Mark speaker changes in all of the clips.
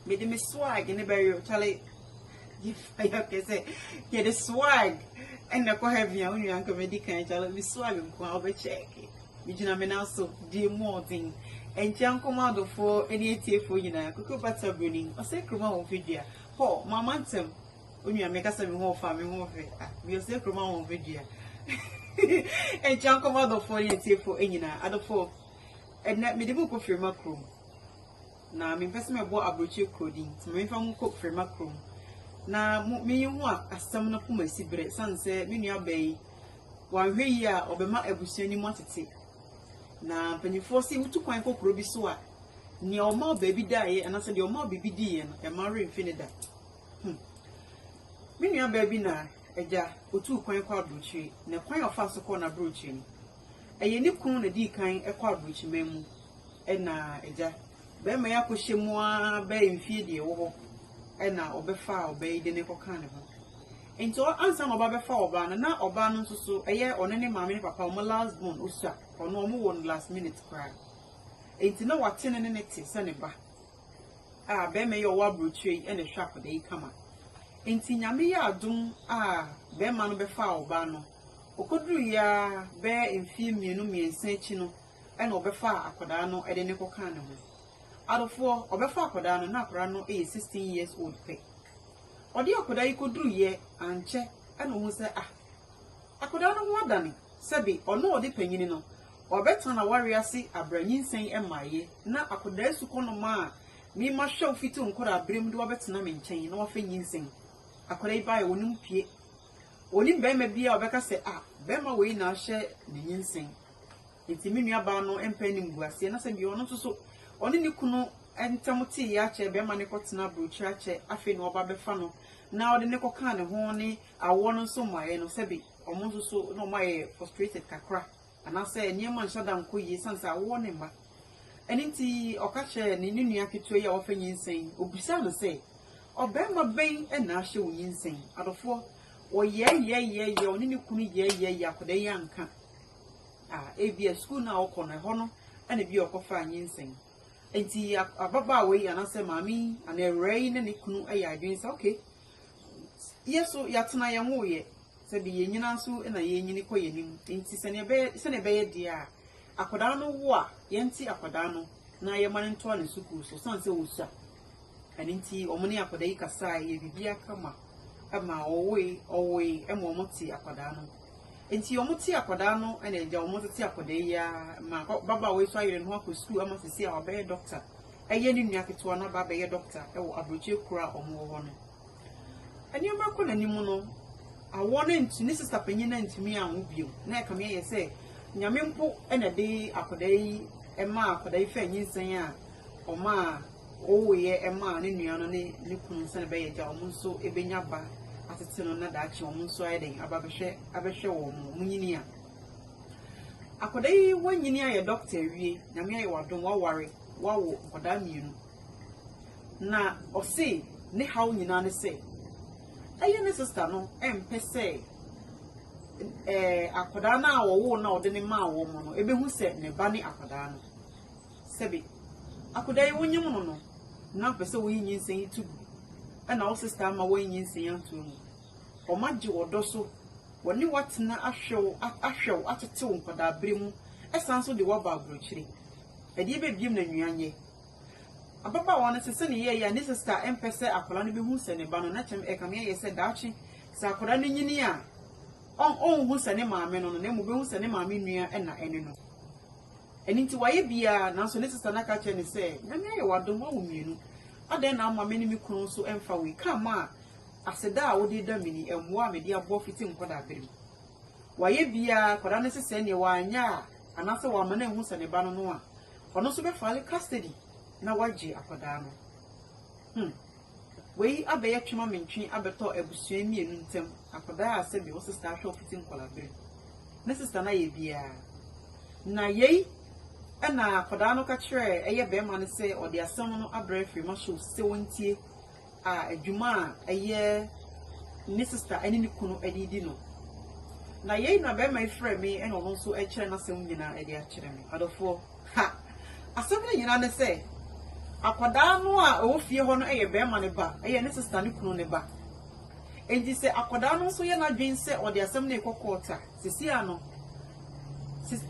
Speaker 1: mede me swag ne bɛyɛ kyale yɛfayɛ kɛ sɛ yɛde swag ɛna kɔ heaven a wonua nka medi kan kyale me swag nko a wobɛkyɛɛke megyina me nan so die mu ɔden ɛnkyɛ nkɔma adɔfoɔ ne atiefoɔ nyinaa koko bata buroni ɔsɛ kuroma wɔn fidua hɔ mama ntɛm onua meka sɛ me ho ɔfa me ho ɔfɛ ah bi ɔsɛ kuroma wɔn fidua ɛnkyɛ nkɔma adɔfoɔ ne atiefoɔ nyinaa adɔfoɔ Ɛnnɛ, mede mo rekɔ Firima kurom, na mempɛ sɛ mɛbɔ aburokyiri kuro din, nti memfa mo nkɔ Firima kurom na mo menye ho asɛm no ko masi berɛ, ɛsiane sɛ me nuabaa yi, wanhwɛ yie a, ɔbɛma abusua no mu atete. Na mpanimfoɔ se wotu kwan kɔ kuro bi so a, nea ɔma baabi daeɛ anaasɛ deɛ ɔma biribi diiɛ no, ɛma werɛ mfi ne da. Hmm. Me nuabaa bi na agya, ɔtuu kwan kɔ aburokyiri, na kwan a ɔfaa so kɔɔ n'aburokyiri no, Ɛyɛ ne kunu na dii kan kɔ aburokyiman mu na agya barima yi akɔhyɛ mu ara bɛyɛ mfeɛ deɛ ɛwɔ hɔ na ɔbɛfaa ɔbaa yi de ne kɔkaa ne ho. Nti ɔ- ansa na ɔba bɛfa ɔbaa no na ɔbaa no nso so ɛyɛ ɔne ne maame ne papa wɔn last born osua ɔno wɔn wɔ no last minute koraa. Nti na wate no ne ne te sɛ ne ba a barima yi a ɔwɔ aburokyire yi na ɛhwɛ akwadaa yi kama. Nti Nyame yɛ adom a barima no bɛfaa ɔbaa no. Okoduruiɛ ara bɛyɛ mfeɛ mmienu mmiɛnsa akyi no na ɔbɛfaa akwadaa no de no kɔkaa ne ho. Adɔfoɔ, ɔbɛfa akwadaa no na akwadaa no yɛ sixteen years old pɛ. Ɔde akwadaa yi kɔduruiɛ ankyɛ na ɔhunu sɛ ah, akwadaa no ho adane, sɛbe ɔno a ɔde panyini no, wabɛtena n'awareɛ ase abrɛ nyinsɛn mmaeɛ na akwadaa sukɔnɔma a me mahwɛ wo fiti wo nkwadaa berɛ mu de wo abɛtena me nkyɛn na wafɛ nyinsɛn. Akwadaa yi baeɛ, ɔnim pue. Onim barima biara a ɔbɛka sɛ, Ah, barima wei na ahyɛ me nyinsɛn. Enti me nuabaa no mpɛ animguaseɛ. Na sɛ bi ɔno nso so, ɔne ne kunu ntam teeɛ akyɛ, barima no kɔtena aburokyire akyɛ, afei na ɔba bɛfa no na ɔde no kɔka ne ho ne awoɔ no nso mmaeɛ no, sɛbe wɔn nso so na wɔayɛ frustrated kakra. Anaasɛ nneɛma nhyɛ da nkɔ yie esiane sɛ awowɔ ne mma. Ɛno nti, ɔka kyerɛɛ ne ne nua ketewa yi a wafa nyinsɛn, ɔbisaa no sɛ, Ɔbarima bɛn na ahyɛ wo nyinsɛn? Adɔfoɔ, wɔyɛɛyɛɛyɛɛyɛɛ, ɔne ne kunu yɛɛyɛɛyɛɛ, akwadaa yi anka. Ah, ebia sukuu no a ɔkɔ no, ɛhɔ no na ebia ɔkɔfaa nyinsɛn. Enti ababaawa yi anaasɛ maame yi anaa awuraa yi ne ne kunu yɛ adwene sɛ, okay, yɛ so yɛatena yɛnwoeɛ, Sɛ de yɛn nyinaa so na yɛrenyini kɔ yɛn anim, enti sɛnea ɛbɛyɛ sɛnea ɛbɛyɛ deɛ a akwadaa no wo a, yɛnte akwadaa no na yɛma no ntoa ne sukuu so, ɛsiane sɛ ɔsua. Ɛno nti, wɔn ne akwadaa yi kasae, yɛ biribiara kama ma ɔwoe, ɔwoe ma wɔte akwadaa no. Enti wɔte akwadaa no na agya wɔn tete akwadaa yi ara ma babaawa yi so ayere ne ho akɔ sukuu ama sisi a wabɛyɛ dɔkta. Ɛyɛ ne nua ketewa no aba abɛyɛ dɔkta wɔ aburokyire kuro a wɔwɔ hɔ no. Nneɛma rekɔ n'anim no, awɔ no antu, ne sista panyin no antumi anwo bio. Na ɛkame ayɛ sɛ Nyame mpo na ɛde akwadaa yi maa akwadaa yi faa nyinsɛn a ɔmaa ɔwoeɛ maa ne nua no ne ne kunu sɛdeɛ ɛbɛyɛ gya wɔn nso bɛnya ba atete no na daakye wɔn nso ayɛ dɛn aba bɛhwɛ abɛhwɛ wɔn mo wɔn nyini a akwadaa yi wanyini ayɛ dɔkta awie nyame ayɛ wadom waware wawo nkwadaa mmienu Na ɔse ne haw nyinaa ne sɛ ɛyɛ ne sista no mpɛ sɛ eh, akwadaa no a wɔwoo na ɔde ne maa wɔn no ɛbɛhu sɛ ne ba ne akwadaa no. Sɛbe akwadaa yi wonyem no no, na ɔpɛ sɛ woyi nyinsɛn yi to gu ɛna wo sista ama wɔyi nyinsɛn antoa mu. Wɔn agye wɔ dɔ so, wɔne watena ahwɛw ahwɛw atetew nkwadaa bere mu ɛsan so de waba aburokyire. Ɛdeɛ bɛbiem na nnuan yɛ. Ababaawa no te sɛ ne yɛe a ne sista mpɛ sɛ akwadaa no bɛhu sɛ ne ba no. Na kyɛm ɛkame ayɛ sɛ daakye sɛ akwadaa no nyini a, ɔn ɔnhu sɛ ne maame no no, na mmom ɔbɛhu sɛ ne maame nua na ɛne no. Ɛno nti wayɛ biara, nanso ne sista no aka akyerɛ no sɛ, Nyame ayɛ w'adom, woawo mmienu. Adɛn na amma me ne me kunu nso mfa wei? Ka ma a aseda a wode reda me ni, mmoa a mede aboa fiti nkwadaa bere mu. Wayɛ biara, akwadaa no sesɛɛ, nea wanyɛ a, anaasɛ wamma no anhu sɛ ne ba no no a, Ɔno nso bɛfile custody na wagye akwadaa no. Hmm. Wei abɛyɛ twema mentwe abɛtɔ abusua mmienu ntam, akwadaa a sɛbi wo sista ahwɛ ɔfiti nkɔlabere. Ne sista no ayɛ biaa. Na yei ɛna akwadaa no ka kyerɛɛ ɛyɛ bɛɛma no sɛ ɔde asɛm no abrɛ Firimah Show sɛ wɔntie a dwuma a ɛyɛ ne sista ne ne kunu de redi no. Na yei na barima yi frɛ me na ɔno nso rekyerɛ n'asɛm nyinaa de akyerɛ me. Adɔfoɔ, ha! Asɛm no nyinaa ne sɛ, akwadaa no a ɛwɔ fie hɔ no yɛ barima no ba, ɛyɛ ne sista ne kunu no ba. Enti sɛ akwadaa no nso yɛ n'adwene sɛ ɔde asɛm no rekɔ court a, sisi ano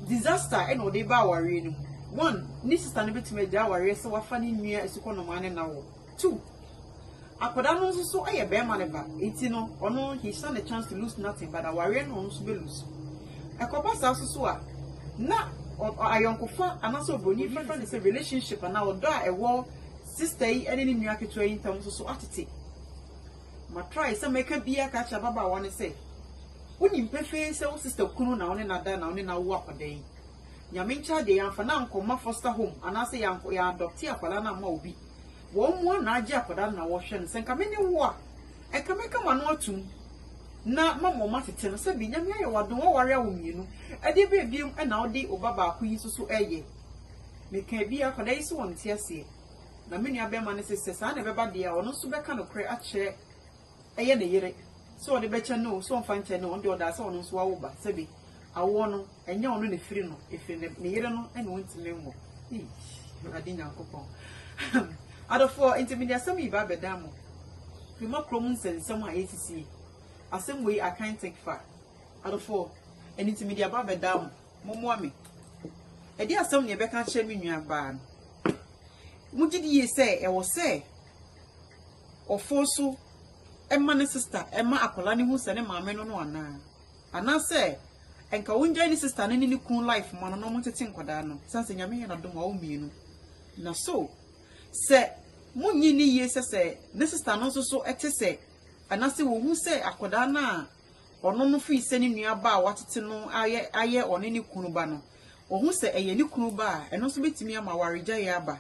Speaker 1: disaster na ɔde ba awareɛ no mu. One, ne sista no bɛtumi agya awareɛ sɛ wafa ne nua asukɔnɔmaa no na wɔ. Two, akwadaa no nso so yɛ barima ne ba, nti no ɔno he stand a chance to lose nothing but awareɛ no ɔno nso bɛ lose. Ɛkɔba saa nso so a, na ayɔnkofa anaasɛ obroni bɛfa ne sɛ relationship anaa ɔdɔ a ɛwɔ sister yi ne ne nua ketewa yi ntam nso so atete. Ma try sɛ mɛka bi aka akyerɛ ababaawa no sɛ, wonim pefee sɛ wo sister kunu na wo ne na da na wo ne na wo akwadaa yi. Nyame nkyɛ adeɛ yɛamfa no ankɔma foster home anaasɛ yɛadɔpte akwadaa no amma obi. Wɔn mmoa na agye akwadaa no na wɔhwɛ no. Sɛ nka me ne wo a, nka mɛka m'ano atom na mama wɔn atete no. Sɛbi, Nyame ayɛ wo adom, woaware awo mmienu. Ɛdeɛ bɛn bio na wode wo ba baako yi nso so reyɛ? Mekaa bi, akwadaa yi se ɔnte aseɛ. Na me nua barima no se sɛ saa na ɛbɛba deɛ a, ɔno nso bɛka nokorɛ akyerɛ ɛyɛ ne yere sɛ ɔde bɛkyɛ no o, sɛ ɔmfa nkyɛ no o, ɔno deɛ ɔdaa sɛ ɔno nso wawo ba. Sɛbe awoɔ no, ɛnyɛ ɔno na ɛfiri no, ɛfiri ne ne yere no na ɔntumi nwo. Eii, Awurade Nyankopɔn. Ahem. Adɔfoɔ, enti mede asɛm yi ba abɛda mo mma kurom nsɛnsɛm a ɛresisi yi. Asɛm wei I can't take far. Adɔfoɔ, ɛno nti mede aba abɛda mo. Mommoa me. Ɛdeɛ asɛm na yɛbɛka akyerɛ me nuabaa no. Mogye die sɛ ɛwɔ sɛ ɔforo so ma ne sista ma akwadaa no hu sɛ ne maame no no anaa anaasɛ nka wɔngyae ne sista no ne ne kunu life ma no na wɔntete nkwadaa no sane sɛ nyame yɛ n'adom a wɔmmienu na so sɛ monyi ne yie sɛ sɛ ne sista no nso so ɛte sɛ anaasɛ wɔhu sɛ akwadaa no a ɔno no firi sɛ ne nua ba a watete no ayɛ ayɛ ɔne ne kunu ba no wɔhu sɛ ɛyɛ ne kunu ba a ɛno nso bɛtumi ama awaregyaeɛ aba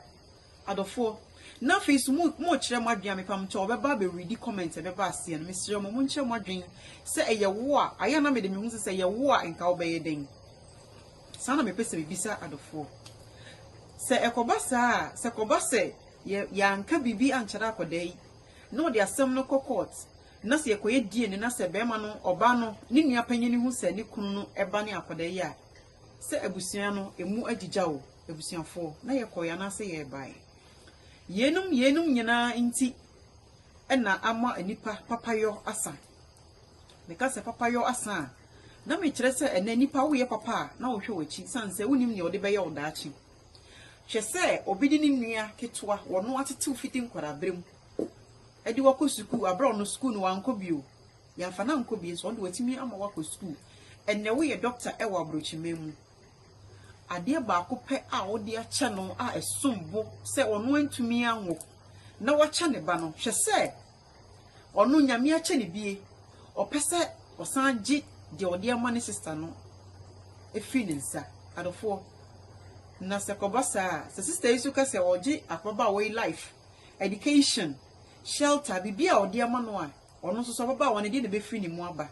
Speaker 1: Adɔfoɔ, na afei nso mo, mo rekyerɛ mo adwene a mepam nkyɛ wɔbɛba abɛ readi comment a ɛbɛba aseɛ no, mesrɛ mo, mo nkyerɛ mo adwene sɛ ɛyɛ wo a, ayɛ a na mede me ho sɛ sɛ ɛyɛ wo a nka wobɛyɛ dɛn? Saa na mepɛ sɛ mebisa adɔfoɔ. Sɛ ɛkɔba saa a, sɛ kɔba sɛ yɛ, yɛanka biribi ankyɛrɛ akɔdaa yi, na ɔde asɛm no kɔ court, na sɛ yɛkɔyɛ DNA na sɛ bɛrima no, ɔbaa no, ne nua panyin no hu sɛ ne kunu no ba ne akɔdaa yi a, Sɛ abusua no emu agyigya o, abusuafoɔ, na yɛkɔɔɛ anaasɛ yɛbaeɛ. Yeinom, yeinom nyinaa nti na ama nnipa papayɔ asa. Meka sɛ papayɔ asa a, na mekyerɛ sɛ ɛnnɛ nnipa woyɛ papa a, na wɔhwɛ w'akyi sane sɛ wonim nea wɔde bɛyɛ wo daakye. Hwɛ sɛ obi de ne nua ketewa, wɔno atetew fiti nkwadaa berɛ mu, de wakɔ sukuu, aberɛ a ɔno sukuu no wankɔ bio. Yɛamfa no ankɔ bie nso, ɔno deɛ watumi ama wakɔ sukuu. Ɛnnɛ woyɛ dɔkta wɔ aburokyiman mu. Adeɛ baako pɛ a wode akyɛ no a ɛsom bo sɛ ɔno antumi anwo na wakyɛ ne ba no, hwɛ sɛ ɔno Nyame akyɛ no bie, ɔpɛ sɛ ɔsan gye deɛ ɔde ama ne sista no firi ne nsa. Adɔfoɔ, na sɛ kɔba saa a, sɛ sista yi nso ka sɛ ɔgye ababaawa yi life, education, shelter, biribi a ɔde ama no a, Ɔno nso, sɛ ɔbɛba a, wɔn deɛ na ɛbɛfiri ne mu aba.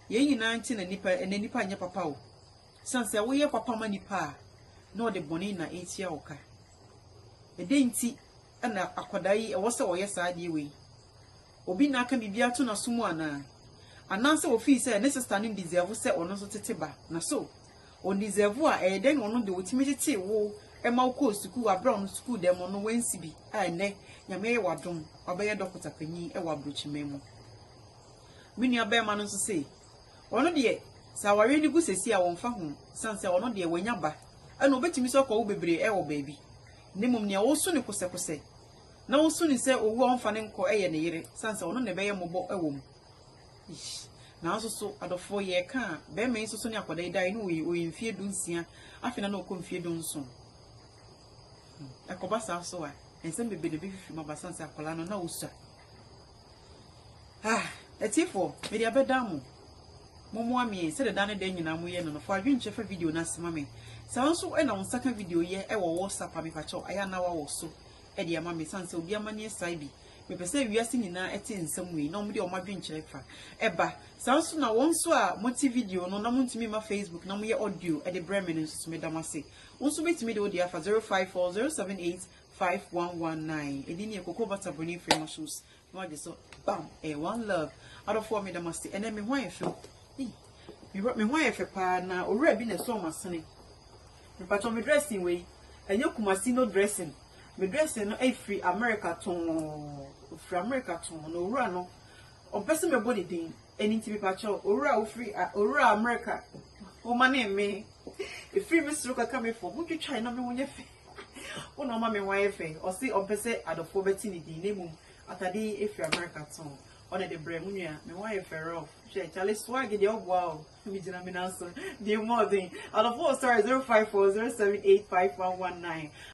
Speaker 1: Yei nyinaa nti na nnipa, ɛnɛ nnipa nyɛ papa o. Ɛsiane sɛ woyɛ papa ma nnipa a, na ɔde bɔne na ɛretua wo ka. Ɛdɛn nti na akwadaa yi ɛwɔ sɛ ɔyɛ saa adeɛ wei? Obi na aka biribi ato n'aso mu anaa? Anaasɛ ɔfii sɛ ne sista no deserve sɛ ɔno nso tete ba na so? o deserve a ɛyɛ dɛn na ɔno de otumi tetee wo ma wokɔɔ sukuu wɔ abere a ɔno sukuu dɛm no wansi bi a ɛnɛ nyame ayɛ wadom wabɛyɛ dɔkota panyin wɔ aburokyiman mu me nua bɛrima no nso se ɔno deɛ sɛ awareɛ no gu sɛsi a wɔmfa ho san sɛ ɔno deɛ wanya ba ɛna obetumi sɛ ɔkɔ wo bebree ɛwɔ baabi ne mmom nea woso ne kosɛkosɛ na woso ne sɛ owu a ɔmfa ne nkɔ ɛyɛ ne yere san sɛ ɔno na ɛbɛyɛ mmɔbɔ ɛwɔ mu Eish. Nanso so, adɔfoɔ, yɛreka a, barima yi nso so ne akwadaa yi daeɛ no, ɔyɛ, ɔyɛ mfeɛ dunsia, afei na na ɔkɔ mfeɛ dunson. Hmm. Ɛkɔba saa nso a, nsɛm bebree na ɛbɛfifiri mu aba sane sɛ akwadaa no na ɔsua. Ah, atiefoɔ, mede abɛda mo. Mommoa me sɛdeɛ da ne da nyinaa moyɛ no no, fa adwenkyɛ fa video no ase ma me. Sɛ wo nso na wo nsa ka video yɛ wɔ WhatsApp a mepakyɛw, ayɛ a na wawɔ so de ama me, sane sɛ obi amanneɛ sae bi Mepɛ sɛ wiase nyinaa te nsɛm wei na wɔde wɔn adwenkyerɛ fa ba. Saa nso na wɔn nso a mote video no na montumi mma Facebook na moyɛ audio de brɛ me no nso so, meda mo ase. Wo nso wobɛtumi de wo deɛ afa 0540785119. Ɛdin no yɛ Cocoa Butter Burning Free Mushrooms. Na wagye so bam! Ɛyɛ one love. Adɔfoɔ meda mo ase. Ɛnɛ me ho ayɛ fɛ o. Ei, Me ho me ho ayɛ fɛ paa na owura bi na ɛsɔɔ m'asene. Mpatwɔ me dressing wei, ɛnyɛ Kumasi no dressing. Me dressing no ɛfiri America tɔnn, ɛfiri America tɔnn, na owura no ɔmpɛ sɛ mɛbɔ ne din, ɛno nti mepakyɛw, owura a wofiri a, owura America, womanee me, ɛfiri me soro kɔka me fam, wotwitwae na me ho nyɛ fɛ, wo na woma me ho ayɛ fɛ, ɔse ɔmpɛ sɛ adɔfoɔ bɛte ne din, na mmom atadeɛ yi ɛfiri America tɔnn, ɔna de brɛɛ me nua, me ho ayɛ fɛ rough, hwɛ Charlie swag deɛ ɔboa o, megyina me nan so, deɛ mmɔɔden, adɔfoɔ sorry 0540785119.